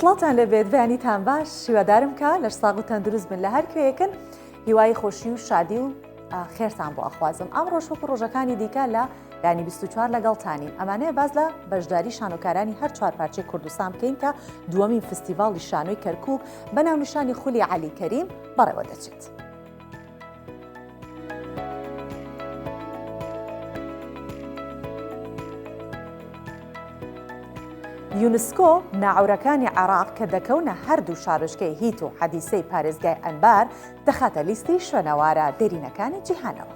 سڵاتان لەبێت بەیانیتان باش شیوەدارم کە لەش ساغ و تەندروست بن لە هەر کوێیەکن هیوای خۆشی و شادی و خێرتان بۆ ئەخوازم ئەم ڕۆژوەکو ڕۆژەکانی دیکە لە ینی 24 لەگەڵتانین ئەمانەیە باز لە بەشداری شانۆکارانی هەر چوار پارچەی کوردستان بکەین کە دووەمین فستیڤاڵی شانۆی کەرکک بە ناونیشانی خولی عەلی کەریم بەڕێوە دەچێت. یونسکۆ ناعورەکانی عێراق کە دەکەونە هەردوو شارۆچکەی هیت و حەدیسەی پارێزگای ئەنبار دەخاتە لیستی شوێنەوارە دێرینەکانی جیهانەوە.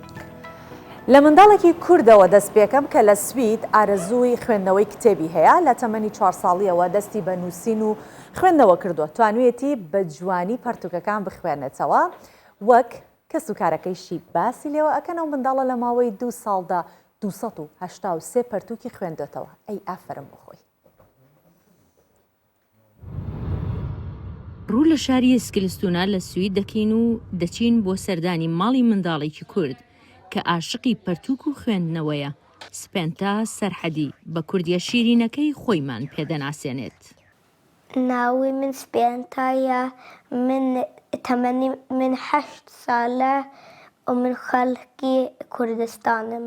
لە منداڵێکی کوردەوە دەست پێکەم کە لە سوید ئارەزووی خوێندنەوەی کتێبی هەیە، لە تەمەنی چوار ساڵییەوە دەستی بە نووسین و خوێندنەوە کردووە، توانوویەتی بە جوانی پەرتووکەکان بخوێنێتەوە وەک کەسوکارەکەیشی باسی لێوە ئەکەن، ئەو منداڵە لە ماوەی دوو ساڵدا دوو سەد و هەشتا و سێ پەرتووکی خوێندۆتەوە، ئەی ئافەرم بۆ خۆی. ڕوو لە شاری ئێسکلستونا لە سوید دەکەین و دەچین بۆ سەردانی ماڵی منداڵێکی کورد کە ئاشقی پەرتووک و خوێندنەوەیە، سپێنتا سەرحەدی، بە کوردییە شیرینەکەی خۆیمان پێ دەناسێنێت. ناوی من سپێنتایە، من تەمەنی من هەشت سالە و من خەڵکی کوردستانم.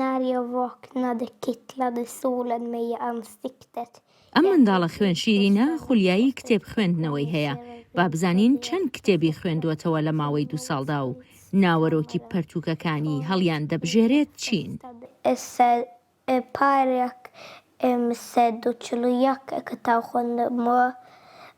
ناریا ڤۆک نادک کیت لادی سوولەن مەیە ئەمستیکتەت. ئەم منداڵە خوێن شیرینە خولیایی کتێب خوێندنەوەی هەیە، با بزانین چەند کتێبی خوێندووەتەوە لە ماوەی دوو ساڵدا و ناوەرۆکی پەرتووکەکانی هەڵیاندەبژێرێت چین؟ پارێک من سەد و چل و یەک کتاو خوێندمەوە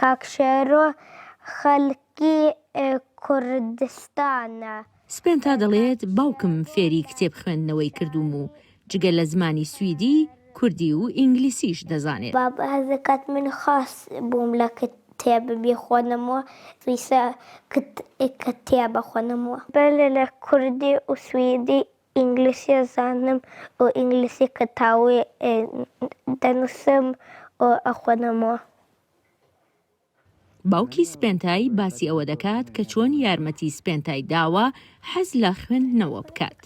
کاک شێرۆ خەلکی کوردستانە. سپێنتا دەڵێت، باوکم فێری کتێب خوێندنەوەی کردووم و جگە لە زمانی سویدی، کوردی و ئینگلیسیش دەزانێت. بابم هەست دەکات من خاس بووم لە کتێب بیخوێنمەوە، پێویستە کتێب بخوێنمەوە. بەلێ لە کوردی و سویدی ئینگلیسی ئەزانم و ئینگلیسی کەتاوی دەنووسم و ئەخوێنمەوە. باوکی سپێنتای باسی ئەوە دەکات کە چۆن یارمەتی سپێنتای داوە حەز لە خوێندنەوە بکات.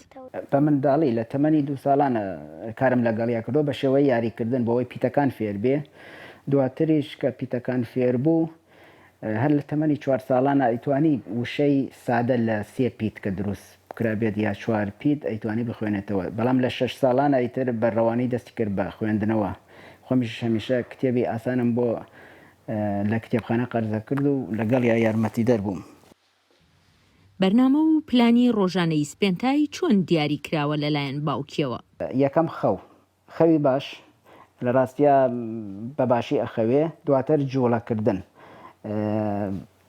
بە منداڵی، لە تەمەنی دوو ساڵانە کارم لەگەڵیا کردووە بە شێوەی یاریکردن بۆ ئەوەی پیتەکان فێربێ. دواتریش کە پیتەکان فێربوو، هەر لە تەمەنی چوار ساڵانە ئەیتوانی وشەی سادە لە سێ پیت کە دروست بکرابێت یا چوار پیت ئەیتوانی بخوێنێتەوە بەڵام لە شەش ساڵانە ئیتر بە ڕەوانی دەستی کرد بە خوێندنەوە خۆمیش هەمیشە کتێبی ئاسانم بۆ لە کتێبخانە قەرزەکرد و لەگەڵیا یارمەتیدەر بووم. بەرنامە و پلانی ڕۆژانەی سپێنتای چۆن دیاری کراوە لەلایەن باوکیەوە؟ یەکەم خەو خەوی باش لە ڕاستیا بە باشی ئەخەوێ دواتر جوڵە کردن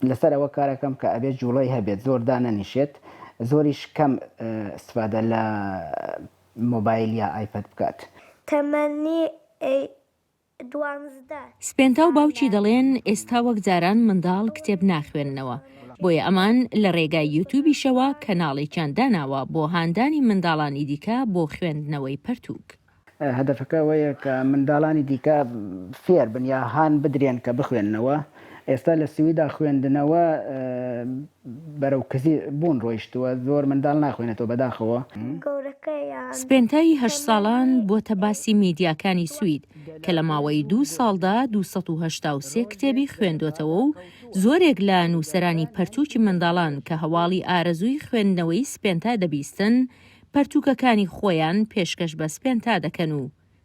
لەسەر ئەوە کارەکەم کە ئەبێت جوڵەی هەبێت زۆر دانەنیشێت زۆریش کەم ئیستفادە لە مۆبایل یا ئایپەد بکات. تەمەنی ئەی دوانزدە. سپێنتا و باوکی دەڵێن ئێستا وەک جاران منداڵ کتێب ناخوێننەوە، بۆیە ئەمان لە رێگای یوتوبیشەوە کەناڵێکیان داناوە بۆ هاندانی منداڵانی دیکە بۆ خوێندنەوەی پەرتووک. هەدەفەکە ئەوەیە کە منداڵانی دیکە فێربن یا هان بدرێن کە بخوێننەوە. ئێستا لە سویدا خوێندنەوە بەرەو کزی بوون ڕۆیشتووە زۆر منداڵ ناخوێنێتەوە بەداخەوە. سپێنتای هەشت ساڵان بووەتە باسی میدیاکانی سوید کە لە ماوەی دوو ساڵدا دوو سەد و هەشتا و سێ کتێبی خوێندۆتەوە و زۆرێک لە نووسەرانی پەرتووکی منداڵان کە هەواڵی ئارەزووی خوێندنەوەی سپێنتا دەبیستن پەرتووکەکانی خۆیان پێشکەش بە سپێنتا دەکەن و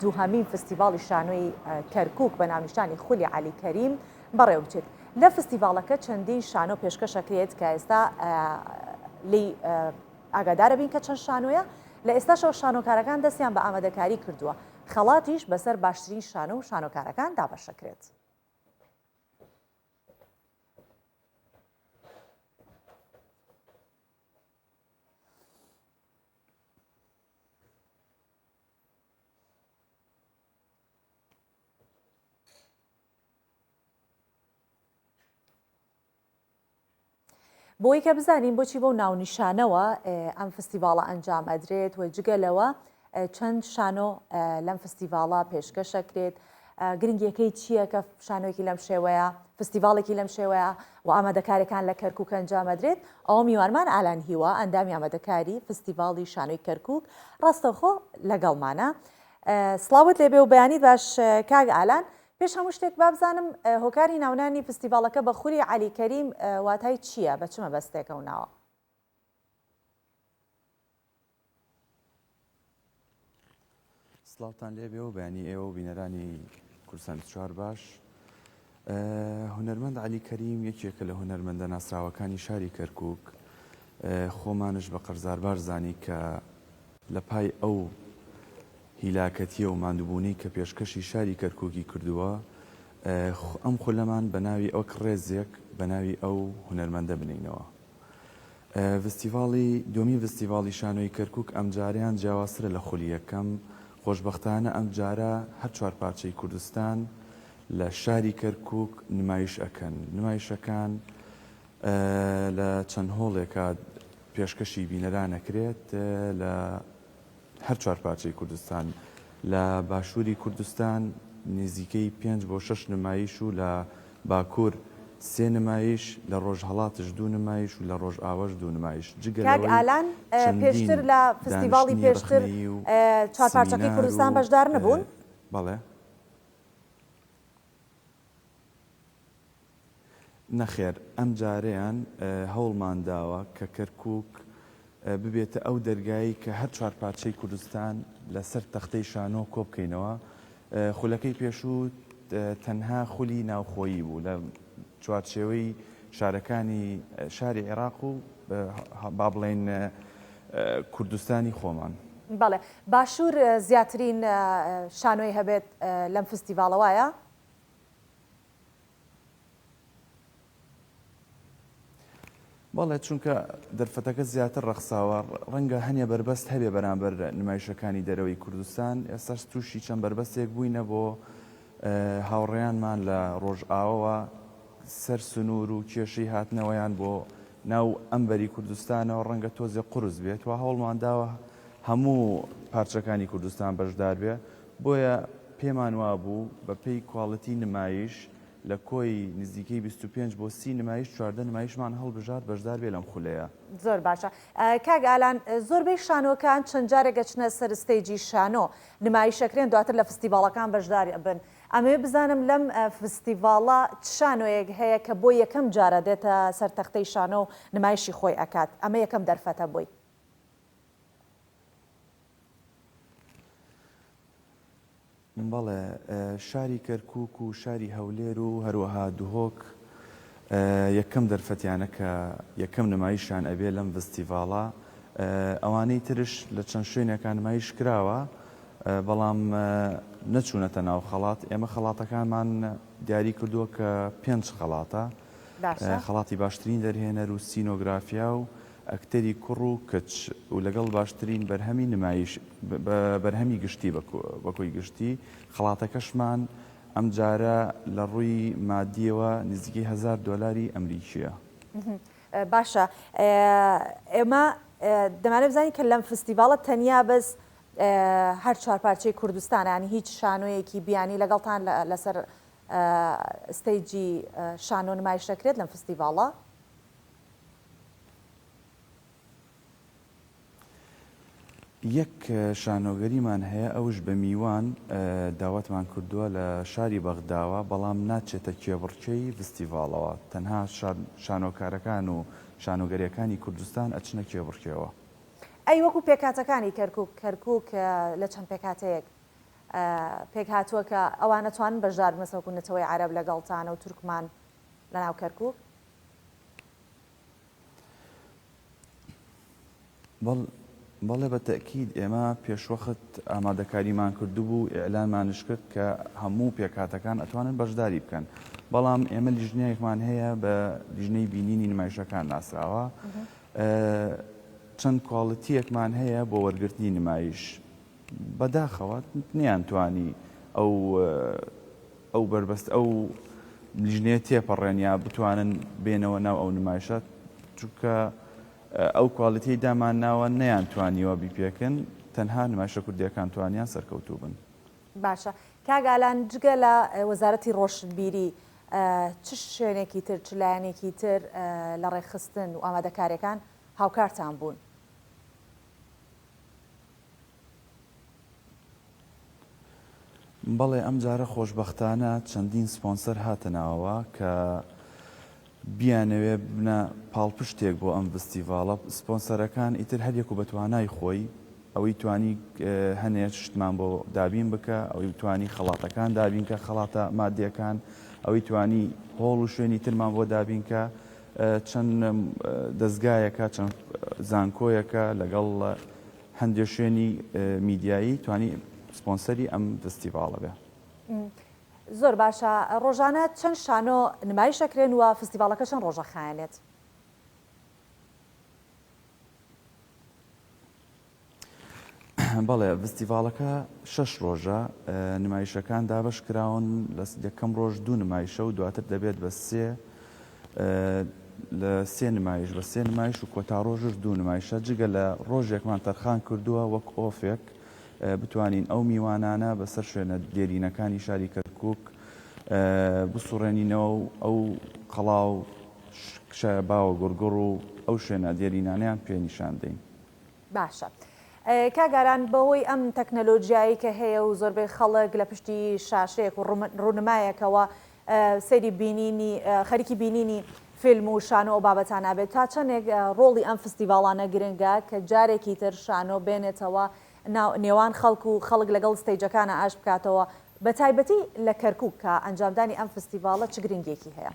دووهەمین فستیڤاڵی شانۆی کەرکووک بە ناونیشانی خولی عەلی کەریم بەڕێوەبچێت. لە فستیڤاڵەکە چەندین شانۆ پێشکەشەکرێت کە ئێستا لێی ئاگادارەبین کە چەند شانۆیە، لە ئێستاشەوە شانۆکارەکان دەستیان بە ئامادەکاری کردووە، خەڵاتیش بەسەر باشترین شانۆ و شانۆکارەکان دابەشەکرێت. بۆی کە بزانین بۆچی بەو ناونیشانەوە ئەم فستیڤاڵە ئەنجام ئەدرێت و جگە لەوە چەند شانۆ لەم فستیڤاڵە پێشکەشەکرێت گرنگیەکەی چییە کە شانۆیەکی لەم شێوەیە فستیڤاڵێکی لەم شێوەیە و ئامادەکارەکان لە کەرکک ئەنجامەدرێت ئەو میوانمان ئالان هیوا ئەندامی ئامادەکاری فستیڤاڵی شانۆی کەرکک ڕاستەوخۆ لەگەڵمانە سلااوت لێبێ و بەیانی باش کاگ ئالان پێش هەموو شتێک بابزانم هۆکاری ناونانی فستیڤالەکە بە خولی علی کەریم واتای چییە بە چمە بەستێکە و ناوە سڵاوتان لێبێ و بەیانی ئێوە و بینەرانی کورسان چوار باش هونەرمەند علی کەریم یەکێکە لە هونەرمەندە ناسراوەکانی شاری کەرکک خۆمانش بە قەرزاربار زانی کە لە پای ئەو هیلاکەتیە و مادوبوونی کە پێشکەشی شاری کەرککی کردووە ئەم خولەمان بە ناوی ئەو کڕێزێک بە ناوی ئەو هونەرمەندە بنینەوە ڤستیڤاڵی دووەمی ڤستیڤاڵی شانۆی کەرکووک ئەمجارەیان جیاوازترە لە خولی یەکەم، خۆشبەختانە ئەمجارە هەر چوار پارچەی کوردستان لە شاری کەرکووک نمایش ئەکەن، نمایشەکان لە چەند هۆڵێکا پێشکەشی بینەران ئەکرێت لە. هەر چوار پارچەی کوردستان. لە باشووری کوردستان نیزیکەی پێنج بۆ شەش نمایش و لە باکوور سێ نمایش، لە ڕۆژهەڵاتش دوو نمایش و لە ڕۆژئاواش دوو نمایش، جگە لەوەی چەندین دانیشتنی ڕەخنەیی و سمینار و بەڵێ. نەخێر ئەمجارەیان هەوڵمان داوە کە کەرکووک ببێتە ئەو دەرگایەی کە هەر چوار پارچەی کوردستان لە سەر تەختەی شانۆ کۆ بکەینەوە. خولەکەی پێشوو تەنها خولی ناوخۆیی بوو لە چوارچێوەی شارەکانی شاری عێراق و با بڵێین کوردستانی خۆمان. بەڵێ باشوور زیاترین شانۆی هەبێت لەم فستیڤاڵە وایە؟ بەڵێ چونکە دەرفەتەکە زیاتر ڕەخساوە ڕەنگە هەنێ بەربەست هەبێ بەرامبەر نمایشەکانی دەرەوەی کوردستان ئێستاش تووشی چەند بەربەستێک بووینە بۆ هاوڕێیانمان لە ڕۆژئاوەوە سەر سنوور و کێشەی هاتنەوەیان بۆ ناو ئەمبەری کوردستانەوە ڕەنگە تۆزێ قرس بێت و هەوڵمان داوە هەموو پارچەکانی کوردستان بەشدار بێ بۆیە پێمان وابوو بە پێی کواڵیتی نمایش لە کۆی نزیکەی بیست و پێنج بۆ سی نمایش چواردە نمایشمان هەڵبژارد بەشدار بێ لەم خولەیە. زۆر باشە کاک ئالان زۆربەی شانۆکان چەند جارێک ئەچنە سەر ستەیجی شانۆ نمایش ئەکرێن دواتر لە فستیڤاڵەکان بەشدار ئەبن ئەمەوێ بزانم لەم فستیڤاڵە چ شانۆیەک هەیە کە بۆ یەکەم جارە دێتە سەر تەختەی شانۆ و نمایشی خۆی ئەکات ئەمە یەکەم دەرفەتە بۆی؟ بەڵێ شاری کەرکوک و شاری هەولێر و هەروەها دهۆک یەکەم دەرفەتیانە کە یەکەم نمایشان ئەبێ لەم ڤستیڤاڵە ئەوانەی ترش لە چەند شوێنەکان نمایش کراوە بەڵام نەچوونەتە ناو خەڵات ئێمە خەڵاتەکانمان دیاری کردووە کە پێنج خەڵاتە خەڵاتی باشترین دەرهێنەر و سینۆگرافیا و ئەکتەری کوڕ و کچ و لەگەڵ باشترین بەرهەمی نمایش بە بەرهەمی گشتی بە کۆی گشتی خەڵاتەکەشمان ئەمجارە لە ڕووی مادیەوە نزیکەی هەزار دۆلاری ئەمریکیە. باشە ئێمە دەمانەوێت بزانین کە لەم فستیڤاڵە تەنیا بەس هەر چوار پارچەی کوردستانە یانی هیچ شانۆیەکی بیانی لەگەڵتان لەسەر ستەیجی شانۆ نمایش دەکرێت لەم فستیڤاڵە؟ یەک شانۆگەریمان هەیە ئەوش بە میوان داوەتمان کردووە لە شاری بەغداوە بەڵام ناچێتە کێبڕکێی ڤستیڤاڵەوە تەنها شانۆکارەکان و شانۆگەریەکانی کوردستان ئەچنە کێبڕکێوە. ئەی وەکو پێکهاتەکانی کەرکوک کەرکوک لە چەند پێکهاتەیەک پێکهاتووە کە ئەوان ئەتوانن بەشداربنەسەکو نەتەوەی عەرەب لەگەڵتانە و تورکمان لەناو کەرکوک؟ بەڵێ بە تەئکید ئێمە پێشوەخت ئامادەکاریمان کردبوو ئیعلانمانش کرد کە هەموو پێکاتەکان ئەتوانن بەشداری بکەن بەڵام ئێمە لیژنەیەکمان هەیە بە لیژنەی بینینی نمایشەکان ناسراوە چەند کوالڵتیەکمان هەیە بۆ وەرگرتنی نمایش بەداخەوە نەیانتوانی ئەو ئەو بەربەست ئەو لیژنەیە تێپەڕێن یا بتوانن بێنەوە ناو ئەو نمایشە چونکە ئەو کوالیتی دامان ناوە نەیان توانیوە بیپێکن تەنها نمایشە کوردیەکان توانیان سەرکەوتوو بن. باشە کاگالان جگە لە وەزارەتی ڕۆشنبیری چ شوێنێکی تر چ لایەنێکی تر لە ڕێکخستن و ئامادەکاریەکان هاوکارتان بوون؟ بەڵێ ئەمجارە خۆشبەختانە چەندین سپۆنسەر هاتە ناوەوە کە بیانەوێ ببنە پاڵپشتێک بۆ ئەم ڤستیڤاڵە، سپۆنسەرەکان ئیتر هەریەکو بە توانای خۆی، ئەوی توانی هەنێ شتمان بۆ دابین بکە، ئەوی توانی خەڵاتەکان دابین کە خەڵاتە مادیەکان، ئەوی توانی هۆڵ و شوێنی ترمان بۆ دابین کە، چەند دەزگایەکە، چەند زانکۆیەکە، لەگەڵ هەندێ شوێنی میدیایی توانی سپۆنسەری ئەم فستیڤاڵە بێ. زۆر باشە، ڕۆژانە چەند شانۆ نمایش ئەکرێن و فستیڤاڵەکە چەند ڕۆژ ئەخایەنێت؟ بەڵێ ڤستیڤاڵەکە شەش ڕۆژە نمایشەکان دابش کراون لە یەکەم ڕۆژ دوو نمایشە و دواتر دەبێت بە سێ لە سێ نمایش بە سێ نمایش و کۆتا ڕۆژش دوو نمایشە جگە لە ڕۆژێکمان تەرخان کردووە وەک ئۆفێک بتوانین ئەو میوانانە بەسەر شوێنە دێرینەکانی شاری کەرکک بسوڕێنینەوە و ئەو قەڵاو شکشایە باوە گوڕگوڕ و ئەو شوێنە دێرینانەیان پێ نیشان دەین. باشە کاک ئاران بەهۆی ئەم تەکنەلۆجیایەی کە هەیە و زۆربەی خەڵک لە پشتی شاشەیەک و ڕونمایەکەوە سەیری بینینی خەریکی بینینی فیلم و شانۆ و بابەتانە بێت تا چەندێک ڕۆڵی ئەم فستیڤاڵانە گرنگە کە جارێکی تر شانۆ بێنێتەوە نێوان خەڵک و خەڵک لەگەڵ ستەیجەکانە ئاش بکاتەوە بە تایبەتی لە کەرکک کە ئەنجامدانی ئەم فستیڤاڵە چ گرنگێکی هەیە؟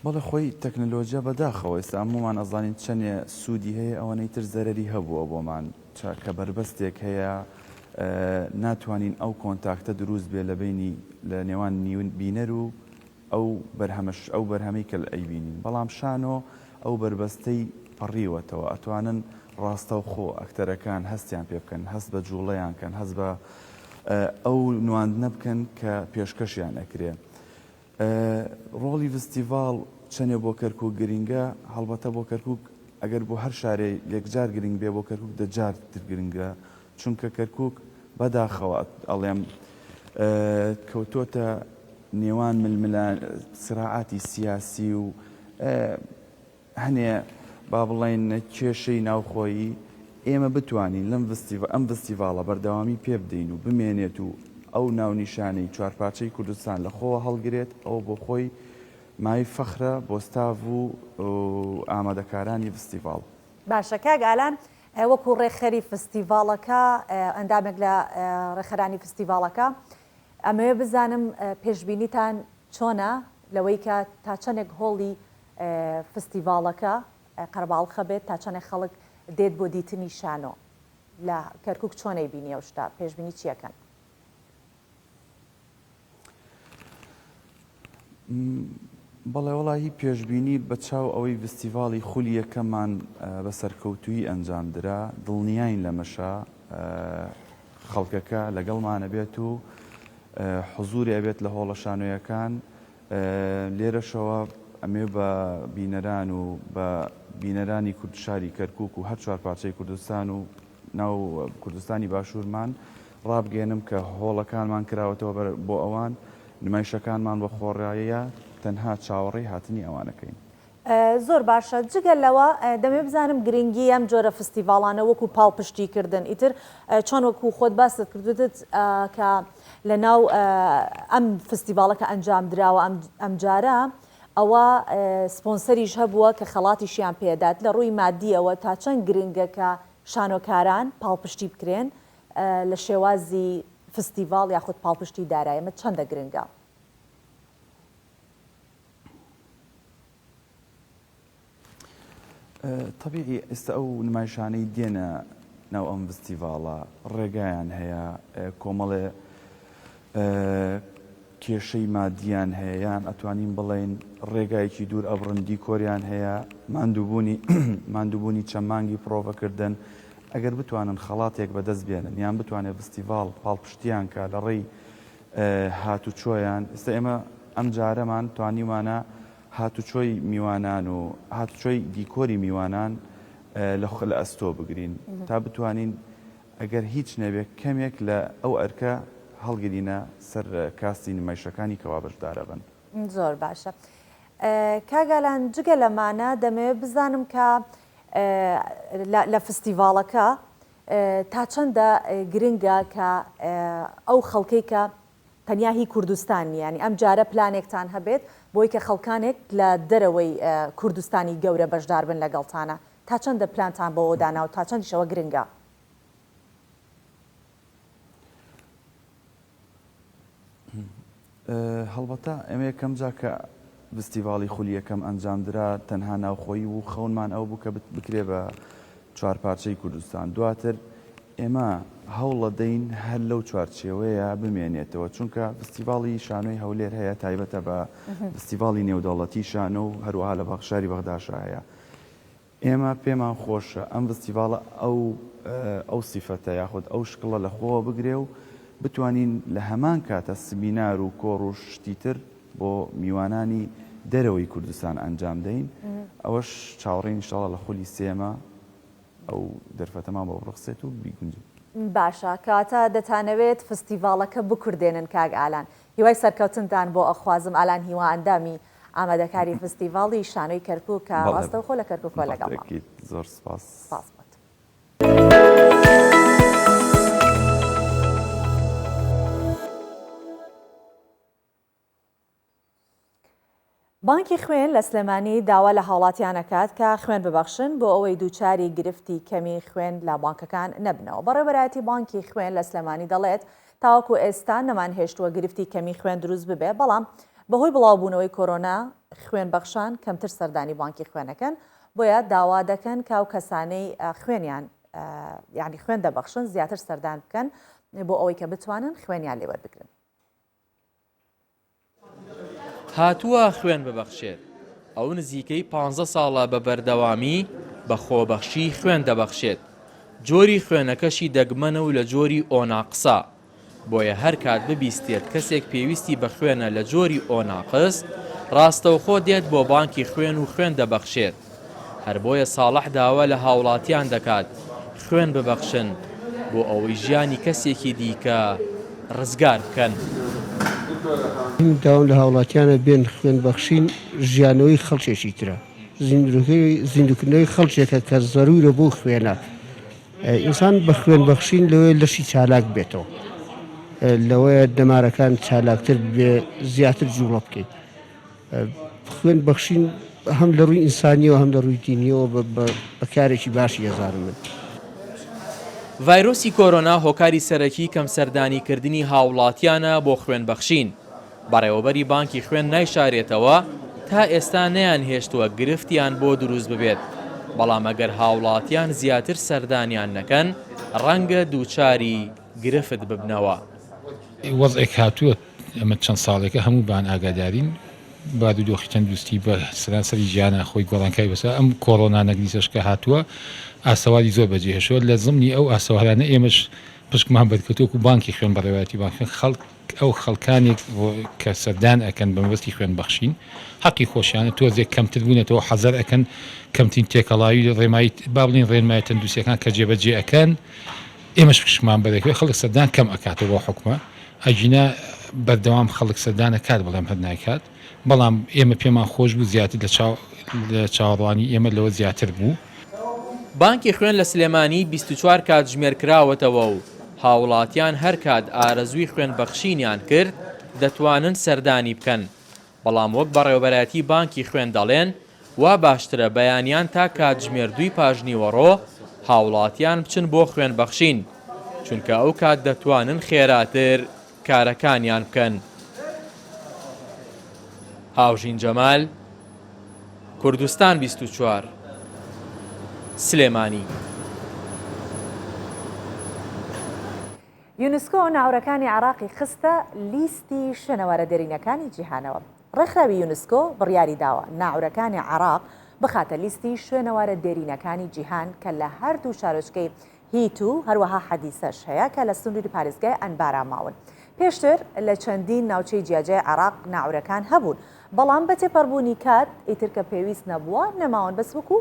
بەڵێ خۆی تەکنەلۆجیا بەداخەوە ئێستا هەموومان ئەزانین چەندێ سوودی هەیە ئەوەنەی تر زەرەری هەبووە بۆمان چاکە بەربەستێک هەیە ناتوانین ئەو کۆنتاکتە دروست بێ لە بینی لە نێوان نیون بینەر و ئەو بەرهەمەش ئەو بەرهەمەی کە ئەیبینین بەڵام شانۆ ئەو بەربەستەی پەڕیوەتەوە ئەتوانن ڕاستەوخۆ ئەکتەرەکان هەستیان پێ بکەن هەست بە جووڵەیان کەن هەست بە ئەو نواندنە بکەن کە پێشکەشیان ئەکرێ ڕۆڵی فستیڤاڵ چەنێ بۆ کەرکک گرنگە هەڵبەتە بۆ کەرکک ئەگەر بۆ هەر شارێ یەکجار گرنگ بێ بۆ کەرکک دەجار تر گرنگە چونکە کەرکوک بەداخەوە ئەڵێم کەوتۆتە نێوان ململان سراعاتی سیاسی و هەنێ با بڵێن کێشەی ناوخۆیی ئێمە بتوانین لەم ئەم ڤستیڤاڵە بەردەوامی پێ بدەین و بمێنێت و ئەو ناونیشانەی چوارپارچەی کوردستان لە خۆوە هەڵگرێت ئەوە بۆ خۆی مای فەخرە بۆ ستاڤ و ئامادەکارانی ڤستیڤاڵ. باشە کاک ئالان وەکو ڕێکخەری فستیڤاڵەکە، ئەندامێک لە ڕێکخەرانی فستیڤاڵەکە، ئەمەوێ بزانم پێشبینیتان چۆنە لەوەی کە تا چەندێک هۆڵی فستیڤاڵەکە قەرەباڵخە بێت، تا چەندێک خەڵک دێت بۆ دیتنی شانۆ لە کەرکوک، چۆن ئەیبینی ئەو شتە، پێشبینی چییەکەن؟ بەڵێ وەڵا هی پێشبینی بەچاو ئەوەی ڤستیڤاڵی خولی یەکەمان بە سەرکەوتوویی ئەنجامدرا دڵنیاین لەمەشە خەڵکەکە لەگەڵمانە بێت و حزوری ئەبێت لە هۆڵە شانۆیەکان لێرەشەوە ئەمێ بە بینەران و بە بینەرانی کوردشاری کەرکک و هەر چوار پارچەی کوردستان و ناو کوردستانی باشوورمان ڕابگەیەنم کە هۆڵەکانمان کراوەتەوە بۆ ئەوان، نمایشەکانمان بە خۆڕایە، تەنها چاوەڕێی هاتنی ئەوانەکەین. زۆر باشە، جگە لەوە دەمەوێت بزانم گرنگی ئەم جۆرە فستیڤاڵانە وەکو پاڵپشتیکردن ئیتر چۆن وەکو خۆت باست کردووتت کە لەناو ئەم فستیڤاڵە کە ئەنجامدراوە ئەمجارە ئەوا سپۆنسەریش هەبووە کە خەڵاتیشیان پێدات، لە ڕووی مادییەوە تا چەند گرنگە کە شانۆکاران پاڵپشتی بکرێن لە شێوازی فستیڤاڵ یاخود پاڵپشتی دارای ئەمە چەندە گرنگە؟ تەبیعی ئێستا ئەو نمایشانەی دێنە ناو ئەم ڤستیڤاڵە ڕێگایان هەیە کۆمەڵێ کێشەی مادیان هەیە یان ئەتوانین بڵین ڕێگایەکی دوور ئەبڕن دیکۆریان هەیە ماندووبوونی ماندووبوونی چەند مانگی پرۆڤەکردن ئەگەر بتوانن خەڵاتێک بەدەست بێنن یان بتوانێت ڤستیڤاڵ پاڵپشتیان کا لە ڕێی هاتوچۆیان ئێستا ئێمە ئەم جارەمان توانیمانە هاتوچۆی میوانان و هاتوچۆی دیکۆری میوانان لە خۆ لە ئەستۆ بگرین تا بتوانین ئەگەر هیچ نەبێت کەمێک لە ئەو ئەرکە هەڵگرینە سەر کاستی نمایشەکانی کەوا بەشدارەبن. زۆر باشە کاک ئالان جگە لەمانە دەمەوێت بزانم کە لە فستیڤاڵەکە تا چەندە گرنگە کە ئەو خەڵکەی کە تەنیا هی کوردستان نیە یانی ئەم جارە پلانێکتان هەبێت بۆی کە خەڵکانێک لە دەرەوەی کوردستانی گەورە بەشدار بن لەگەڵتانە تا چەندە پلانتان بەوە داناو تا چەندیش ئەوە گرنگە؟ هەڵبەتە ئێمە یەکەم جار کە ڤستیڤاڵی خولی یەکەم ئەنجامدرا، تەنها ناوخۆیی بوو، خەونمان ئەوە بوو کە بکرێ بە چوار پارچەی کوردستان، دواتر ئێمە هەوڵەدەین هەر لەو چوارچێوەیە بمێنێتەوە، چونکە ڤستیڤاڵی شانۆی هەولێر هەیە تایبەتە بە ڤستیڤاڵی نێودەوڵەتی شانۆ و هەروەها لە شاری بەغداشا هەیە. ئێمە پێمان خۆشە ئەم ڤستیڤاڵە ئەو ئەو سیفەتە یاخود ئەو شکڵە لە خۆوە بگرێ و بتوانین لە هەمان کاتە سمینار و کۆڕ و شتی تر بۆ میوانانی دەرەوەی کوردستان ئەنجام دەین ئەوەش چاوەڕێین ان شاءاللە لە خولی سێمە ئەو دەرفەتەمان بۆ بڕەخسێت و بیگونجێ. باشە کەواتە دەتانەوێت فستیڤاڵەکە بکوردێنن کاک ئالان هیوای سەرکەوتنتان بۆ ئەخوازم ئالان هیوا ئەندامی ئامادەکاری فستیڤاڵی شانۆی کەرکوک کە ڕاستەوخۆ لە کەرکوکوە لەگەڵمە. زۆر سپاس. سپاس بۆت. بانکی خوێن لە سلێمانی داوا لە هاوڵاتیان ئەکات کە خوێن ببەخشن بۆ ئەوەی دووچاری گرفتی کەمی خوێن لە بانکەکان نەبنەوە بەڕێوەبەرایەتی بانکی خوێن لە سلێمانی دەڵێت تاوەکو ئێستا نەمانهێشتووە گرفتی کەمی خوێن دروست ببێ، بەڵام بەهۆی بڵاوبوونەوەی کۆرۆنا خوێن بەخشان کەمتر سەردانی بانکی خوێن ئەکەن، بۆیە داوا دەکەن کە ئەو کەسانەی خوێنیان یانی خوێن دەبەخشن زیاتر سەردان بکەن بۆ ئەوەی کە بتوانن خوێنیان لێ وەربگرن. هاتووە خوێن ببەخشێت، ئەو نزیکەی پانزە ساڵە بە بەردەوامی بە خۆبەخشی خوێن دەبەخشێت، جۆری خوێنەکەشی دەگمەنە و لە جۆری ئۆ ناقسە، بۆیە هەرکات ببیستێت کەسێک پێویستی بە خوێنە لە جۆری ئۆ ناقس، راستەوخۆ دێت بۆ بانکی خوێن و خوێن دەبەخشێت. هەر بۆیە ساڵح داوا لە هاوڵاتیان دەکات خوێن ببەخشن بۆ ئەوەی ژیانی کەسێکی دیکە رزگار بکەن. من داوام لە هاوڵاتیانە بێن خوێن بەخشین ژیانەوەی خەڵکێکی ترە زیندووکردنەوەی خەڵکێکە کە زەروورە بۆ خوێنە ئینسان بە خوێن بەخشین لەوەیە لەشی چالاک بێتەوە لەوەیە دەمارەکان چالاکتر بێ زیاتر جوڵە بکەیت. خوێن بەخشین هەم لە ڕووی ئینسانیەوە هەم لە ڕووی دینیەوە بە کارێکی باشی ئەزانم من. ڤایرۆسی کۆرۆنا هۆکاری سەرەکی کەم سەردانی کردنی هاوڵاتیانە بۆ خوێن بەخشین، بەڕێوەبەری بانکی خوێن نایشارێتەوە تا ئێستا نەیان هێشتووە گرفتیان بۆ دروست ببێت، بەڵام ئەگەر هاوڵاتیان زیاتر سەردانیان نەکەن ڕەنگە دووچاری گرفت ببنەوە. وەزعێک هاتووە ئێمە چەند ساڵێکە هەمووبان ئاگادارین بارودۆخی تەندروستی بە سەرانسەری جیهانا خۆی گۆڕانکای بەسەر ئەم کۆڕۆنا نەگریسەش کە هاتووە ئاسەواری زۆر بەجێ هێشتووە لە زمنی ئەو ئاسەوارانە ئێمەش پشکمان بەرکەوتووە وەکو بانکی خوێن بە ڕێوایەتی بانکی خوێن خەڵک ئەو خەڵکانێک کە سەردان ئەکەن بە مەبەستی خوێن بەخشین حەقی خۆشیانە تۆزێک کەمتر بوونەتەوە حەزەر ئەکەن کەمترین تێکەڵاوی ڕێمای با بڵێین ڕێنمایە تەندروستییەکان کە جێبەجێ ئەکەن ئێمەش پشکمان بە دەکرێت خەڵک سەردان کەم ئەکاتەوە بەو حوکمە ئەگینا بەردەوام خەڵک سەردان ئەکات بەڵام هەر نایکات بەڵام ئێمە پێمان خۆش بوو زیاتر لە چاو لە چاوەڕوانی ئێمە لەوە زیاتر بوو. بانکی خوێن لە سلێمانی بیست و چوار کاتژمێر کراوەتەوە و هاوڵاتیان هەرکات ئارەزووی خوێن بەخشینیان کرد دەتوانن سەردانی بکەن. بەڵام وەک بەڕێوەبەرایەتی بانکی خوێن دەڵێن، وا باشترە بەیانیان تا کاتژمێر دووی پاشنیوەڕۆ هاوڵاتیان بچن بۆ خوێن بەخشین، چونکە ئەو کات دەتوانن خێراتر کارەکانیان بکەن. هاوژین جەمال، کوردستان بیست و چوار، سلێمانی. یونسکۆ ناوەرەکانی عێراقی خستە لیستی شوێنەوارە دێرینەکانی جیهانەوە. ڕێکخراوی یونسکۆ بڕیاریداوە ناوەرەکانی عێراق بخاتە لیستی شوێنەوارە دێرینەکانی جیهان کە لە هەردوو شارۆچکەی هیت و هەروەها حەدیسەش هەیە کە لە سنووری پارێزگای ئەنبارا ماون. پێشتر لە چەندین ناوچەی جیاجیای عێراق ناوەرەکان هەبوون، بەڵام بە تێپەڕبوونی کات ئیتر کە پێویست نەبووە نەماون بەس وەکو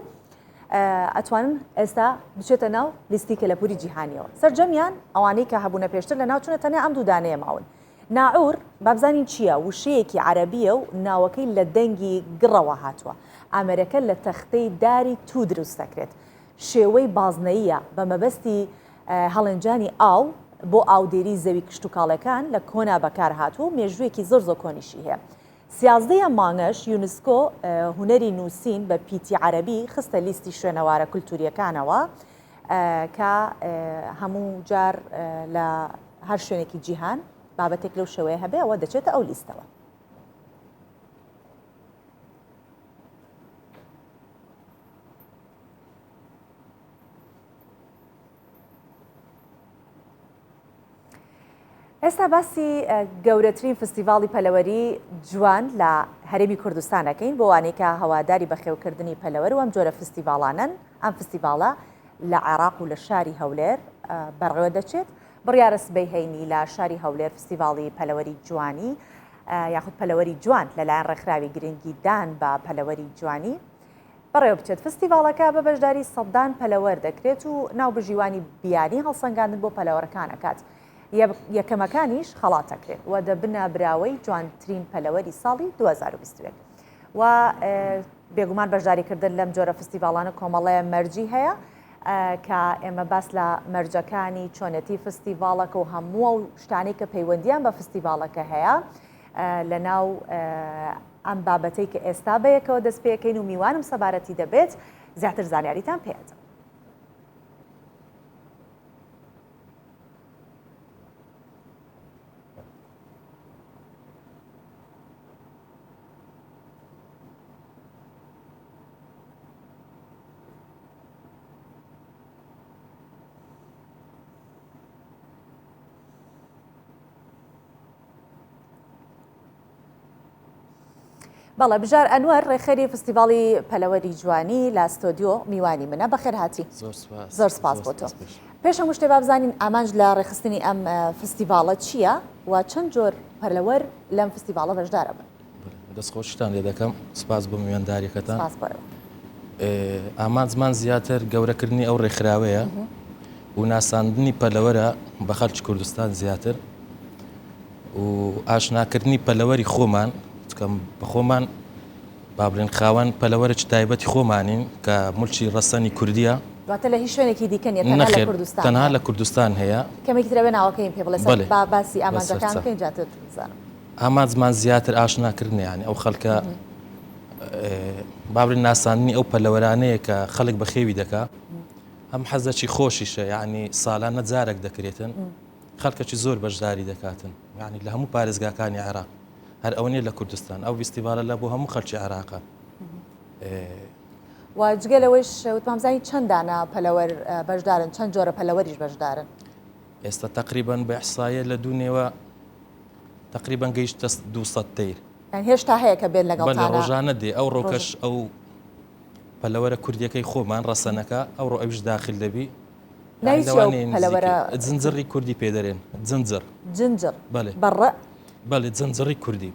ئەتوانن ئێستا بچێتە ناو لیستی کەلەپوری جیهانیەوە سەرجەمیان ئەوانەی کە هەبوونە پێشتر لە ناوچونە تەنیا ئەم دوودانەیە ماون ناعور بابزانین چییە وشەیەکی عربیە و ناوەکەی لە دەنگی گڕەوە هاتووە ئامەرەکە لە تەختەی داری تو دروست دەکرێت شێوەی بازنەییە بە مەبەستی هەڵێنجانی ئاو بۆ ئاودێری زەوی کشتوکاڵەکان لە کۆنا بەکار هاتوو مێژوویەکی زۆر زۆر کۆنیشی هەیە سیازدە ەم مانگەش یونسکۆ هونەری نووسین بە پیتی عەرەبی خستە لیستی شوێنەوارە کولتوورییەکانەوە کە هەموو جار لە هەر شوێنێکی جیهان بابەتێک لەو شێوەیە هەبێ ئەوە دەچێتە ئەو لیستەوە. ئێستا باسی گەورەترین فستیڤاڵی پەلەوەری جوان لە هەرێمی کوردستانەکەین بۆ وانێکە هەواداری بەخێوکردنی پەلەوەر و ئەم جۆرە فستیڤاڵانن ئەم فستیڤاڵە لە عێراق و لە شاری هەولێر بەڕێوە دەچێت بڕیارە سبەی هەینی لە شاری هەولێر فستیڤاڵی پەلەوەری جوانی یاخود پەلەوەری جوان لەلایەن ڕێکخراوی گرنگی دان بە پەلەوەری جوانی بەڕێوەبچێت، فستیڤاڵەکە بە بەشداری سەدان پەلەوەر دەکرێت و ناوبژیوانی بیانی هەڵسەنگاندن بۆ پەلەوەرەکان ئەکات، یەکەمەکانیش خەڵات ئەکرێن و دەبنە براوەی جوانترین پەلەوەری ساڵی دوو هەزار و بیست و یەک و بێگومان بەشداریکردن لەم جۆرە فستیڤاڵانە کۆمەڵەیە مەرجی هەیە کە ئێمە باس لە مەرجەکانی چۆنێتی فستیڤاڵەکە و هەموو ئەو شتانەی کە پەیوەندیان بە فستیڤاڵەکە هەیە لەناو ئەم بابەتەی کە ئێستا بەیەکەوە دەست پێکەین و میوانم سەبارەتی دەبێت زیاتر زانیاریتان پێدە بەڵێ بژار ئەنوەر ڕێخەری فستیڤاڵی پەلەوەری جوانی لە ستۆدیۆ میوانی منە بەخێر هاتی زۆر سپاس بۆ تۆ پێشە مشتێ بابزانین ئامانج لە ڕێخستنی ئەم فستیڤاڵە چییە و چەند جۆر پەرلەوەر لەم فستیڤاڵە بەشدارە بن دەست خۆشتان لێ دەکەم سپاس بۆ میوانداریەکەتان ئامانزمان زیاتر گەورەکردنی ئەو ڕێکخراوەیە و ناساندنی پەلەوەرە بە خەرچ کوردستان زیاتر و ئاشناکردنی پەلەوەری خۆمان بکەم بە خۆمان با بڵێن خاوەن پەلەوەرە تایبەتی خۆمانین کە ملچی ڕەسەنی کوردیە دواتە لە هیچ شوێنێکی دیکە تەنها لە کوردستان هەیە کەمێکی ترەوێ ناوەکەیم پێ بڵێ باسی ئامانجەکان بکەین جاتر بزانم. ئامانجمان زیاتر ئاشنا کردنیان ئەو خەلکە بابرین ناساننی ئەو پەلەوەرانەیە کە خەلک بەخێوی دەکا ئەم حەزەکی خۆشیشە یعنی سالانە جارێک دەکرێتن خەلکەکی زۆر بەشداری دەکاتن یعنی لە هەموو پارێزگاکانی عێراق هەر ئەو نیە لە کوردستان ئەو ویستیڤالە لە بۆ هەموو خەلکی عێراقە واجگە لەوەی شوتمامزانی چەندانە پەلەوەر بەشدارن چەند جۆرە پەلەوەریش بەشدارن ئێستا تقریبان بە حسایە لە دوونێوە تەقریبەن گەیشتە دوو سەد تەیر. یان هێشتا هەیە کە بێت لەگەڵتانە؟ بەلێ ڕۆژانە دێ، ئەوڕۆکەش ئەو پەلەوەرە کوردییەکەی خۆمان ڕەسەنەکە، ئەوڕۆ ئەویش داخل دەبی. ناوی چییە ئەو پەلەوەرە؟ لەوانەیە نزیکەی، جنجڕی کوردی پێ دەرێن، جنجڕ. جنجڕ، بەڵێ. بە ڕ؟ بەڵێ، جنجڕی کوردی.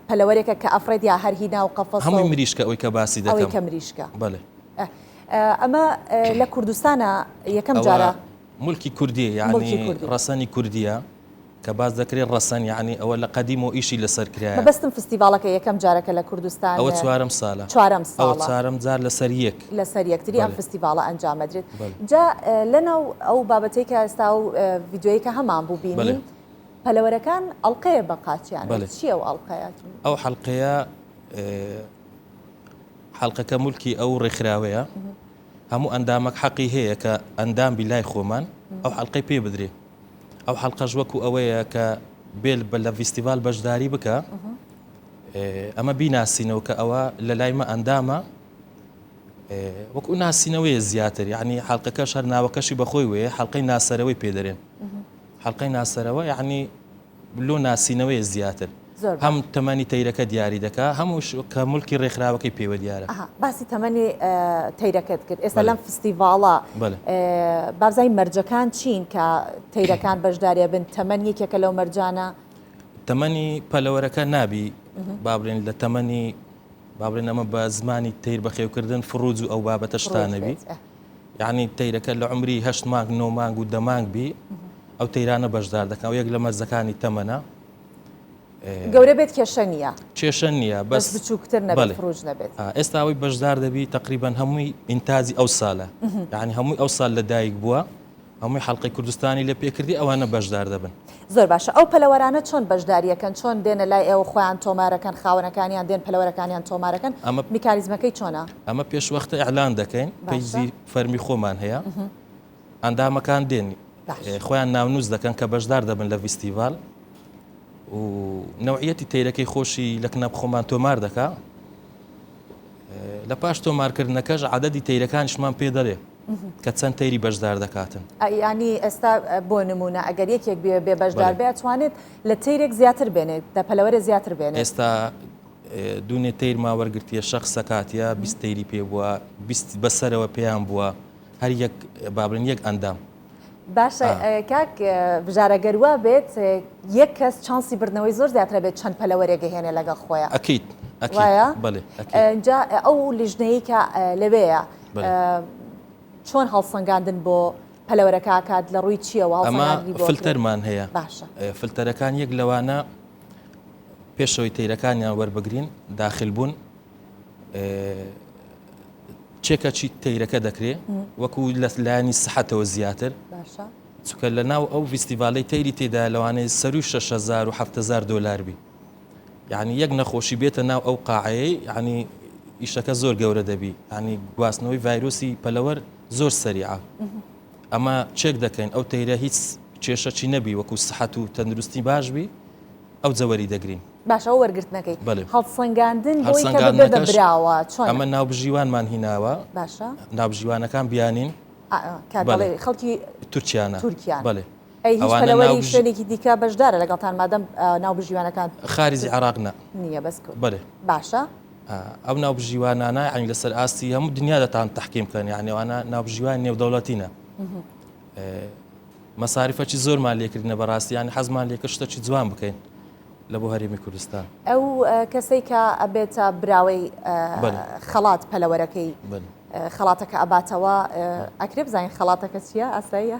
پەلەوەرێکە کە ئەفڕێت یا هەر هی ناو قەفەسە و. هەمووی مریشکە ئەوەی کە باسی دەکەم. ئەوەی کە مریشکە. بەڵێ. ئەمە لە کوردستانە یەکەم جارە؟ ئەوە ملکی کوردی یانی ڕەسەنی کوردیە کە باس دەکرێت ڕەسەن یانی ئەوە لە قەدیم و ئیشی لەسەر کرایە بەستم فستیڤاڵەکە یەکەم جارەکە لە کوردستان ئەوە چوارم سالە چوارم ساڵ چارم جار لەسەر یەک لەسەر یەکتری ئەم فستیڤاڵە ئەنجامەدرێت جا لەناو ئەو بابەتەی کە ئێستا و یددیوەیەکە هەمان بوو بینی پەلەوەرەکان ئەڵلقەیە بە قاچیان چیە و ئەڵلقەیە ئەو حەلقەیە حەلقەکە ملکی ئەو ڕێکخراوەیە هەموو ئەندامەک حەقی هەیە کە ئەندام بی لای خۆمان ئەو حەلقەی پێ بدرێ ئەو حەلقەش وەکو ئەوەیە کە بێل بە لە ڤیستیڤال بەشداری بکە ئەمە بیناسینەوە کە ئەوە لە لای مە ئەندامە وەکو ناسینەوەی زیاتر یعنی حلقەکەش هەر ناوەکەشی بەخۆی وێ حلقەی ناسەرەوەی پێدەێن حلقەی ناسەرەوە یعنی لۆ ناسینەوەی زیاتر هەم تەمەنی تەیرەکە دیاری دەکا هەمووش کە ملکی ڕێکخراوەکەی پێوە دیارە باسی تەمەنی تەیرەکەت کرد ئێستا لەم فستیڤاڵە بابزای مەرجەکان چین کە تەیرەکان بەشدارێ بن تەمەەن یەکێکە لەو مەرجانە تەمەنی پەلەوەرەکە نابی بابلێن لە تەمەنی بابلێن ئەمە بە زمانی تیر بەخێوکردن فڕوج و ئەو بابەتە شتانەبی یانی تەیرەکە لە عمری هەشت مانگ نۆ مانگ و دەمانگ بی ئەو تەیرانە بەشدار دەکەن و یەک لە مەرزەکانی تەمەە گەورە بێت کێشە نیە کێشە نییە بەس بچووکتر نەبێت ڕژ نەبێت ئێستاوەی بەشدار دەبی تقریبان هەمووی ئینتازی ئەو سالە یعنی هەمووی ئەو سال لە دایک بووە هەمووی حەڵقەی کوردستانی لێ پێکردی ئەوانە بەشدار دەبن. زۆر باشە ئەو پەلەوەرانە چۆن بەشداریەکەن چۆن دێنە لای ئێوە خۆیان تۆمارەکەن خاوەنەکانیان دێن پەلەوەرەکانیان تۆمارەکەن ئەمە میکانیزمەکەی چۆنە؟ ئەمە پێش وەختە ئیعلان دەکەین باشە. پەیجی فەرمی خۆمان هەیە ئەندامەکان دێن باش. خۆیان ناونووس دەکەن کە بەشدار دەبن لە ڤیستیڤال و نەوعیەتی تەیرەکەی خۆشی لە کنەپ خۆمان تۆمار دەکا لە پاش تۆمارکردنەکەش عەدەدی تەیرەکانیشمان پێ دەڵێ. کە چەند تەیری بەشدار دەکاتن. یانی ئێستا بۆ نموونە ئەگەر یەکێک بێ بێ بەشدار بێ ئەتوانێت لە تەیرێک زیاتر بێنێت دە پەلەوەرێ زیاتر بێنێت؟ ئێستا دوونێ تەیر ما وەرگرتیە شەخ سەکاتە بیست تەیری پێ بووە بیست بەسەرەوە پێیان بووە هەر یەک بابلن یەک ئەندام. باشە کاک بژارە گەر وا بێت یەک کەس چانسی بردنەوەی زۆر زیاترە بێت چەند پەلەوەرێک دەهێنێ لەگەڵ خۆیان؟ ئەکید ئەکید وایە؟ بەڵێ ئەکید. ئینجا ئەو لیژنەیی کە لەوێیە چۆن هەڵسەنگاندن بۆ پەلەوەرەکەکات لە ڕووی چیەوە فلتەرمان هەیە فلتەرەکان یەک لەوانە پێشەوەی تەیرەکانیان وەربگرین داخل بوون چێکە چی تەیرەکە دەکرێ وەکو لە لایانی سەحەتەوە زیاتر چکە لە ناو ئەو فیستیڤالەی تەیری تێدا لەوانەیە سەروی 6هزار و 7هزار دلار بی یانی یەک نەخۆشی بێتە ناو ئەو قاعەیەی یانی ئیشەکە زۆر گەورە دەبی ینی گواستنەوەی ڤایرۆسی پەلەوەر زۆر سەریعە ئەمە چێک دەکەین ئەو تەیرە هیچ کێشەچی نەبی وەکو سەحەت و تەندروستی باش بی ئەو جەوەری دەگرین باشەوە وەرگرتنەکەی هەڵسەنگاندن براوە چۆن ئەمە ناوبژیوانمان هیناوە باشە ناوبژیوانەکان بیانین خەڵکی تورکیانە تورکیان بڵێ ئەی هیچ پەلەوەری شوێنێکی دیکە بەشدارە لەگەڵتان مادەم ناوبژیوانەکان خارجی عێراق نا نییە بەس بەێ باشە ئەو ناوبژیوانانە ئەنی لەسەر ئاستی هەموو دنیا دەتان تحقیم بکەن یانێوانە ناوبژیوان نێودەوڵەتینە مەساریفەی زۆرمان لێکردنە بەڕاستیان حەزمان لێکە شتەکی جوان بکەین لە بۆ هەرێمی کوردستان ئەو کەسەی کە ئەبێتە براوەی خەڵات پەلەوەرەکەی خەڵاتەکە ئەباتەوە ئەکرێ بزانین خەڵاتەکە چییە ئاساییە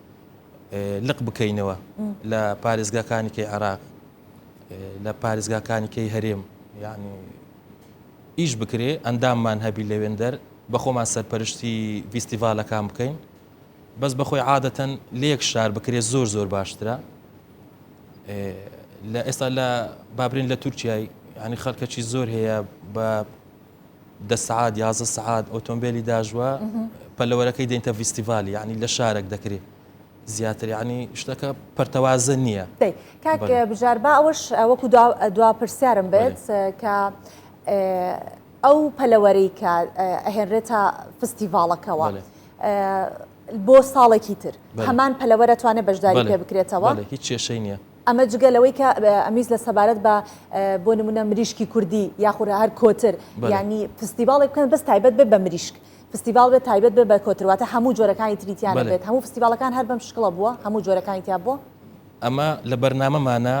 لق بکەینەوە لە پارێزگاکانی کەی عراق لە پارێزگاکانی کەی هەرێم یعنی ئیش بکرێ ئەنداممان هەبی لەوێندەر بەخۆمان سەرپەرشتی ڤیستیڤالەکان بکەین بەس بەخۆی عادەتەن لەیەک شار بکرێت زۆر زۆر باشترە لە ئێستا لە بابرین لە تورکای ینی خەرکەچی زۆر هەیە بە دە سەعات یازدە سەعات ئۆتۆمبێلی داژوە پەلەوەرەکەی دێنتە ڤیستیڤالی یعنی لە شارێک دەکرێت زیاتر یعنی شتەکە پەرتەوازە نییە دەی کاک بەڵێ. بژار با ئەوەش وەکو دوا- دوا پرسیارم بێت بەڵێ. کە ئێ، ئەو پەلەوەرەی کە ئێ، ئەهێنرێتە فستیڤاڵەکەوە بەڵێ. ئێ، بۆ ساڵێکی تر بەڵێ. هەمان پەلەوەر ئەتوانێت بەشداری پێ بەڵێ بکرێتەوە؟ بەڵێ هیچ کێشەی نییە. ئەمە جگە لەوەی کە ئەمیس لە سەبارەت بە بۆ نمونە مریشکی کوردی یاخورە هەر کۆتر ینی فستیڤڵێک بکەن بەس تایبەت بێ بە مریشک فستیڤال بێت تایبەت بێ بە کۆترواتە هەموو جۆرەکانی تریتیان بێت هەموو فستیڤالەکان هەر بەم شکڵە بووە هەموو جۆرەکانی تیا بووە ئەمە لە بەرنامەمانە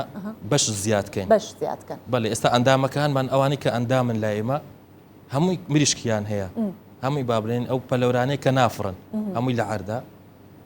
بەش زیادکەین بەش زیادکەن بەڵێ ئێستا ئەندامەکانمان ئەوانی کە ئەندامن لە ئێمە هەمووی مریشکیان هەیە هەمووی بابلێن ئەو پەلەورانەیە کە نافڕن هەمووی لە عەردا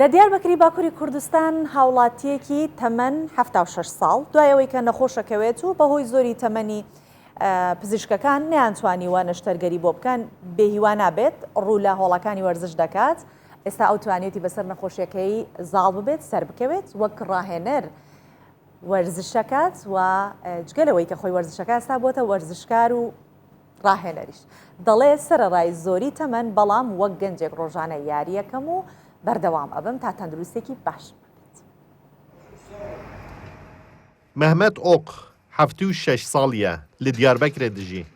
لە دیاربەکری باکووری کوردستان هاوڵاتیەکی تەمەن 76 ساڵ دوایەوەی کە نەخۆشەکەوێت و بەهۆی زۆری تەمەنی پزیشکەکان نیانتوانیوە نەشتەرگەری بۆ بکەن بێهیوا نابێت ڕوو لە هۆڵەکانی وەرزش دەکات ئێستا ئەو توانێتی بەسەر نەخۆشیەکەی زاڵ ببێت سەر بکەوێت وەک ڕاهێنەر وەرزشەکات و جگە لەوەی کە خۆی وەرزشەکە ئەستا بۆتە وەرزشکار و ڕاهێنەریش دەڵێ سەرڕای زۆری تەمەن بەڵام وەک گەنجێک ڕۆژانە یاریەکەم و بەردەوام ئەبم تا تەندروستێکی باش. مەهمەت ئۆق حەفت و شەش ساڵیە لە دیاربەکرە دژی.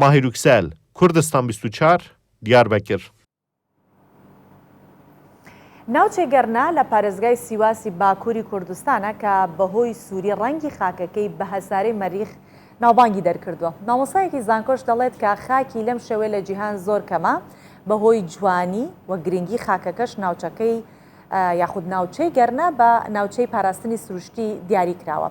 ماهیر یوکسەل، کوردستان بیست و چوار، دیاربەکر. ناوچەی گەرنا لە پارێزگای سیواسی باکووری کوردستانە کە بەهۆی سووری ڕەنگی خاکەکەی بە هەسارەی مەریخ ناوبانگی دەرکردووە. مامۆستایەکی زانکۆش دەڵێت کە خاکی لەم شێوەیە لە جیهان زۆر کەمە، بەهۆی جوانی و گرنگی خاکەکەش ناوچەکەی یاخود ناوچەی گەرنا بە ناوچەی پاراستنی سروشتی دیاری کراوە.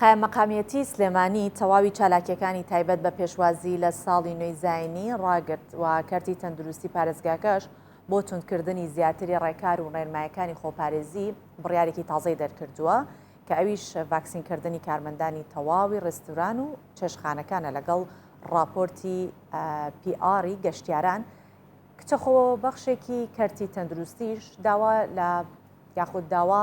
قایممەقامیەتی سلێمانی تەواوی چالاکیەکانی تایبەت بە پێشوازی لە ساڵی نوێی زاینی ڕاگرت و کەرتی تەندروستی پارێزگاکەش بۆ توندکردنی زیاتری ڕێکار و ڕێنمایەکانی خۆپارێزی بڕیارێکی تازەی دەرکردووە کە ئەویش ڤاکسینکردنی کارمەندانی تەواوی ڕێستوران و چێشخانەکانە لەگەڵ ڕاپۆرتی پی ئاری گەشتیاران کچەخۆ بەخشێکی کەرتی تەندروستیش داوا لە یاخود داوا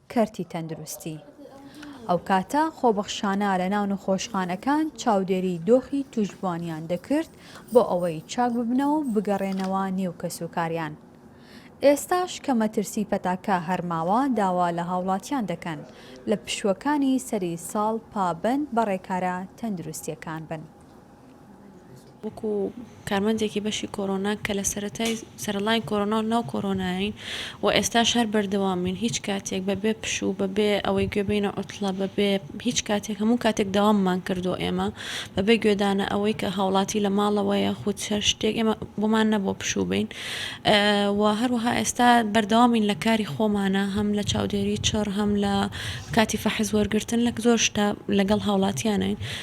کەرتی تەندروستی ئەو کاتە خۆبەخشانە لە ناو نەخۆشخانەکان چاودێری دۆخی توشبوانیان دەکرد بۆ ئەوەی چاک ببنەوە و بگەڕێنەوە نێو کەسوکاریان. ئێستاش کە مەترسی پەتاکە هەر ماوە داوا لە هاوڵاتیان دەکەن لە پشووەکانی سەری ساڵ پابەند بە ڕێکارە تەندروستییەکان بن. وەکو کارمەندێکی بەشی کۆرۆنا کە لە سەرەتای سەرەڵای کۆرۆنا و ناو کۆرۆناین و ئێستاش هەر بەردەوامین هیچ کاتێک بەبێ پشوو بەبێ ئەوەی گوێ بینە عوتڵە بەبێ هیچ کاتێک هەموو کاتێک داواممان کردو ئێمە بەبێ گوێدانە ئەوەی کە هاوڵاتی لە ماڵەوەیە خود هەر شتێک ئێمە بۆمان نەبوو پشوو بین و هەروەها ئێستا بەردەوامین لە کاری خۆمانە هەم لە چاودێری چڕ هەم لە کاتی فەحس وەرگتن لە زۆر شتا لەگەڵ هاوڵاتیانین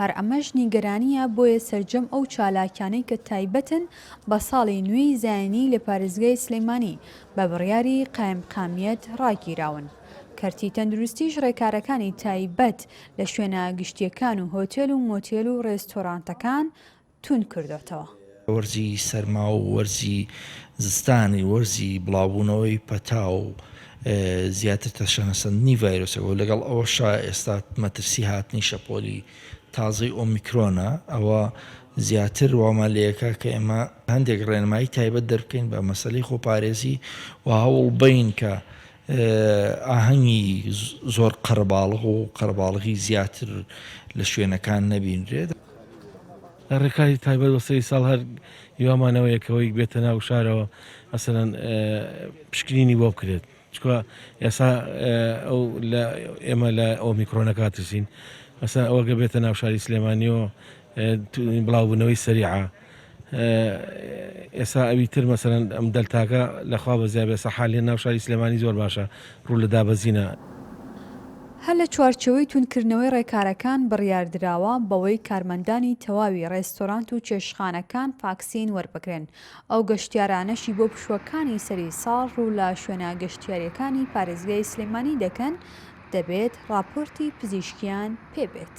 هەر ئەمەش نیگەرانییە، بۆیە سەرجەم ئەو چالاکیانەی کە تایبەتن بە ساڵی نوێی زایینی لە پارێزگای سلێمانی بە بڕیاری قایمقامیەت ڕاگیراون. کەرتی تەندروستیش ڕێکارەکانی تایبەت لە شوێنە گشتییەکان و هۆتێل و مۆتێل و ڕێستۆرانتەکان توند کردۆتەوە. وەرزی سەرما و وەرزی زستان وەرزی بڵاوبوونەوەی پەتا و زیاتر تەشەنەسەندنی ڤایرۆسەکە و لەگەڵ ئەوەشا ئێستا مەترسی هاتنی شەپۆلی تازەی ئۆمیکرۆنە ئەوە زیاتر وامان لێکا کە ئێمە هەندێک ڕێنمایی تایبەت دەربکەین بە مەسەلەی خۆپارێزی و هەوڵبەین کە ئاهەنگی زۆر قەرەباڵغ و قەرەباڵغی زیاتر لە شوێنەکان نەبینرێت. لە ڕێکاری تایبەت بە سەری ساڵ هەر هیوامانەوە یەکەوەیک بێتە ناو شارەوە مەسەلەن پشکنینی بۆ بکرێت چونکە ئێسا ئەو لە ئێمە لە ئۆمیکرۆنەکە ترسین مەسەلەن ئەوەگە بێتە ناو شاری سلێمانیەوە بڵاوبوونەوەی سەریعە ئێسا ئەوی تر مەسەلەن ئەم دەلتاکە لەخوا بەزیا بێ سەحا لێ ناو شاری سلێمانی زۆر باشە ڕوو لە دابەزینە. هەر لە چوارچێوەی توندکردنەوەی ڕێکارەکان بڕیاردراوە بەوەی کارمەندانی تەواوی ڕێستۆرانت و چێشتخانەکان فاکسین وەربگرن، ئەو گەشتیارانەشی بۆ پشووەکانی سەری ساڵ ڕوو لە شوێنە گەشتیارییەکانی پارێزگای سلێمانی دەکەن دەبێت ڕاپۆرتی پزیشکییان پێبێت.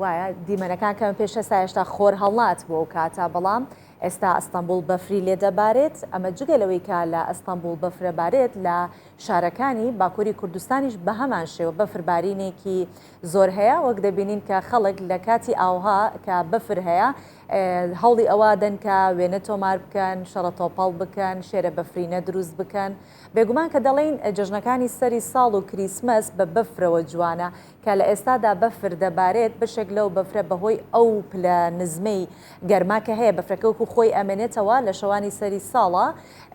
وایە دیمەنەکان کەمە پێش هەستا هێشتا خۆر هەڵات بۆ ئەو کاتە بەڵام ئێستا ئەستەمبول بەفری لێ دەبارێت ئەمە جگە لەوەی کە لە ئەستەمبول بەفرەبارێت لە شارەکانی باکووری کوردستانیش بە هەمان شێوە بەفربارینێکی زۆر هەیە وەک دەبینین کە خەڵک لە کاتی ئاوها کە بەفر هەیە هەوڵی ئەوە دەنکە وێنە تۆمار بکەن شەڕە تۆپەڵ بکەن شێرە بەفرینە دروست بکەن بێگومان کە دەڵین جژنەکانی سەری ساڵ و کریسمەس بە بەفرەوە جوانە کە لە ئێستادا بەفر دەبارێت، بەشێک لەو بەفرە بەهۆی ئەو پلە نزمەی گەرما کە هەیە، بەفرەکە وەکو خۆی ئەمێنێتەوە، لە شەوانی سەری ساڵا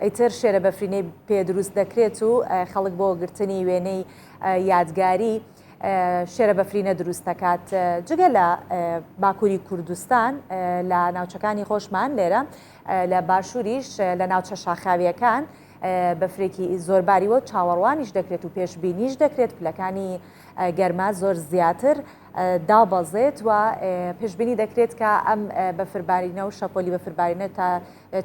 ئیتر شێرە بەفرینەی پێ دروست دەکرێت و خەڵک بۆ گرتنی وێنەی یادگاری شێرە بەفرینە دروست دەکات. جگە لە باکووری کوردستان لە ناوچەکانی خۆشمان لێرە لە باشووریش لە ناوچە شاخاوییەکان بەفرێکی زۆر باریوە چاوەڕوانیش دەکرێت و پێشببینیش دەکرێت پلەکانی گەرما زۆر زیاتر دابەزێت و پێشببینی دەکرێت کە ئەم بەفربارینە و شەپۆلی بەفربارینە تا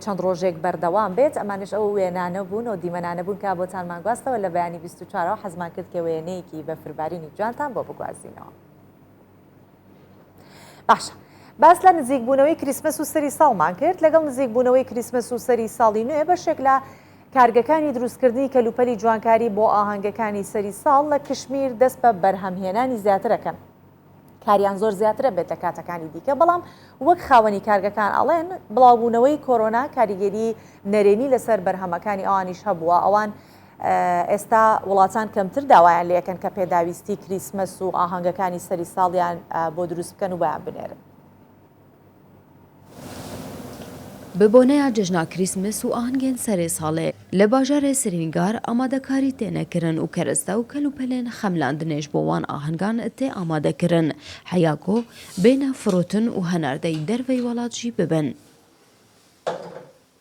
چەند ڕۆژێک بەردەوام بێت ئەمانش ئەو وێنانە بوون و دیمەنانە بوون کە بۆتان ماگواستەوە لە بەیانی 24ەوە حەزمان کرد کە وێنەیەکی بەفربارینی جوانتان بۆ بگوازینەوە. باشە باس لە نزیکبوونەوەی کریسمس و سەری ساڵمان کرد لەگەڵ نزیکبوونەوەی کریسمس و سەری ساڵی نوێ بەشێک لە کارگەکانی دروستکردنی کەلوپەلی جوانکاری بۆ ئاهەنگەکانی سەری ساڵ لە کشمیر دەست بە بەرهەمهێنانی زیاترەکەن کاریان زۆر زیاترە بێت لە کاتەکانی دیکە بەڵام وەک خاوەنی کارگەکان ئەڵێن بڵاوبوونەوەی کۆرۆنا کاریگەری نەرێنی لەسەر بەرهەمەکانی ئەوانیش هەبووە ئەوان ئێستا وڵاتان کەمتر داوایان لێ ئەکەن کە پێداویستی کریسمەس و ئاهەنگەکانی سەری ساڵیان بۆ دروست بکەن و بۆیان بنێرن. بە بۆنەیا جەژنا کریسمەس و ئاهەنگێن سەرێ ساڵێ، لە باژارێ سرینگار ئامادەکاری تێنە کرن و کەرەستە و کەل و پەلێن خەملاندنێش بۆ وان ئاهەنگان تێ ئامادە کرن حەیاکۆ بێنە فروتن و هەناردەی دەرڤەی وەڵات ژی ببن.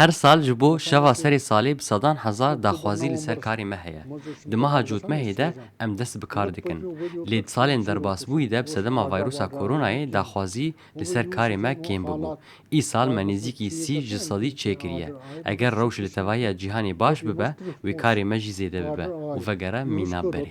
هەر سال ژ بۆ شەڤا سەرێ سالێ ب سەدان هەزار داخوازی لە سەر کارێ مە هەیە. دمەها جوتمە هێدە ئەم دەس ب کار دکن. لێ د سالێن دەرباس بوویدە ب سەدەما ڤایروسا کۆرۆنایێ داخوازی لە سەر کارێ مە کێم ببو. ئی سال مە نێزیکی سی ژ سەدی چێ کریە. ئەگەر رەوش لە تەڤایا جیهانێ باش ببە وێ کارێ مە ژی زێدە ببە و ڤەگەرە میناب بەرێ.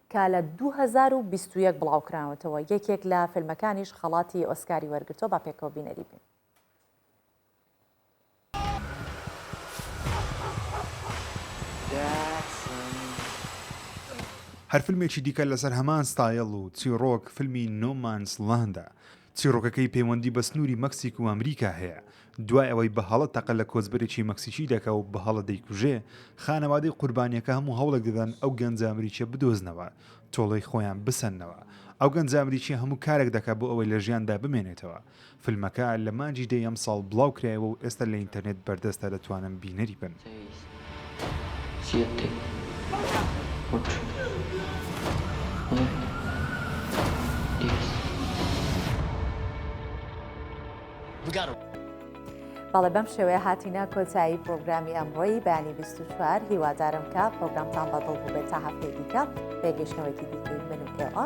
کە لە دوو هەزار و بیست و یەک بڵاوکراونەتەوە، یەکێک لە فیلمەکانیش خەڵاتی ئۆسکاری وەرگرتووە، با پێکەوە بینەری بین. هەر فیلمێکی دیکە لەسەر هەمان ستایڵ و چیڕۆک فیلمی نۆ مانس ڵاندە، چیڕۆکەکەی پەیوەندی بە سنووری مەکسیک و ئەمریکا هەیە، دوای ئەوەی بە هەڵە تەقە لە کۆچبەرێکی مەکسیکی دەکا و بە هەڵە دەیکوژێ، خانەوادەی قوربانییەکە هەموو هەوڵێک دەدەن ئەو گەنجە ئەمریکییە بدۆزنەوە، تۆڵەی خۆیان بسەننەوە. ئەو گەنجە ئەمریکییە هەموو کارێک دەکا بۆ ئەوەی لە ژیاندا بمێنێتەوە. فیلمەکە لە مانگی دەی ئەمساڵ بڵاوکرایەوە و ئێستا لە ئینتەرنێت بەردەستە دەتوانن بینەری بن. بەڵێ بەم شێوەیە هاتینە کۆتایی پرۆگرامی ئەمڕۆی بەیانی 24 هیوادارم کە پرۆگرامتان بەدڵ بووبێت تا هەفتەی دیکە بێگەشتنەوەیکی دیکەی من و ئێوە.